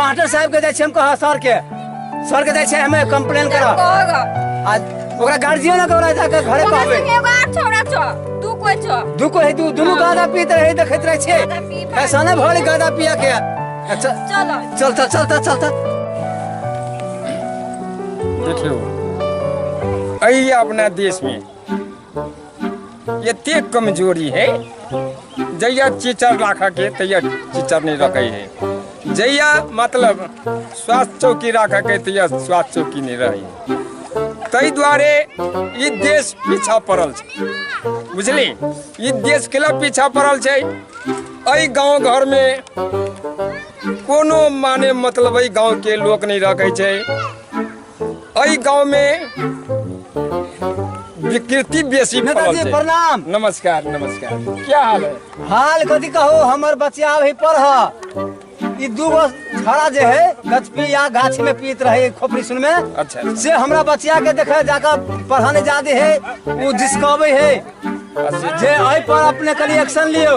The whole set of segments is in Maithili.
मास्टर साहब के जाइ छी हम कह सर के सर के जाइ छी हमे कंप्लेन कर कहगा आ ओकरा गार्जियन के ओकरा जाके घरे ओकरा कहबे संगे एगो आर छोड़ा छो तू कोई छो दू को है दू दुनु गादा पीत रहे देखैत रहे छे गादा पी भाई। ऐसा ना भले गादा पिया के अच्छा चलो चलता चलता चलता देखियो अही अपना देश में एते कमजोरी है जहिया चिचर राखऽ के तहिया चिचर नहीं रखे है जहिया मतलब स्वास्थ्य चौकी राखऽ के तहिया स्वास्थ्य चौकी नहीं रहे है ताहि दुआरे ई देश पीछा पड़ल छै बुझली ई देश के लए पीछा पड़ल छै एहि गांव घर में कोनो माने मतलब एहि गांव के लोक नहीं रखे छै एहि गांव में विकृति बेसी फैलल नेताजी छै। प्रणाम नमस्कार नमस्कार क्या हाल है हाल कथी कहो हमर बच्चा अभी पढ़ ई दू गो छड़ा जे है गछपी या गाछ में पीत रहे खोपड़ी सुन में अच्छा अच्छा। से हमरा बच्चा के देखे जाकर पढ़ाने जादे है वो जिसकबे है अच्छा जे एहि पर अपने कनी एक्शन लियो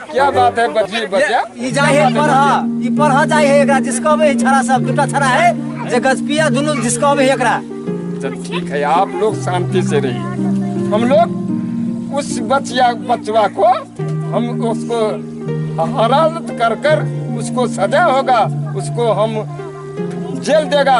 क्या बात है बच्ची बच्चा ई जाय है पढ़ ई पढ़ जाय है एकरा जिसकबे है छड़ा सब दूटा छड़ा है जे गजपिया दुनु जिसकबे है एकरा चल ठीक है आप लोग शांति से रहिए हम लोग उस बचिया बचवा को हम उसको हरारत कर कर उसको सजा होगा उसको हम जेल देगा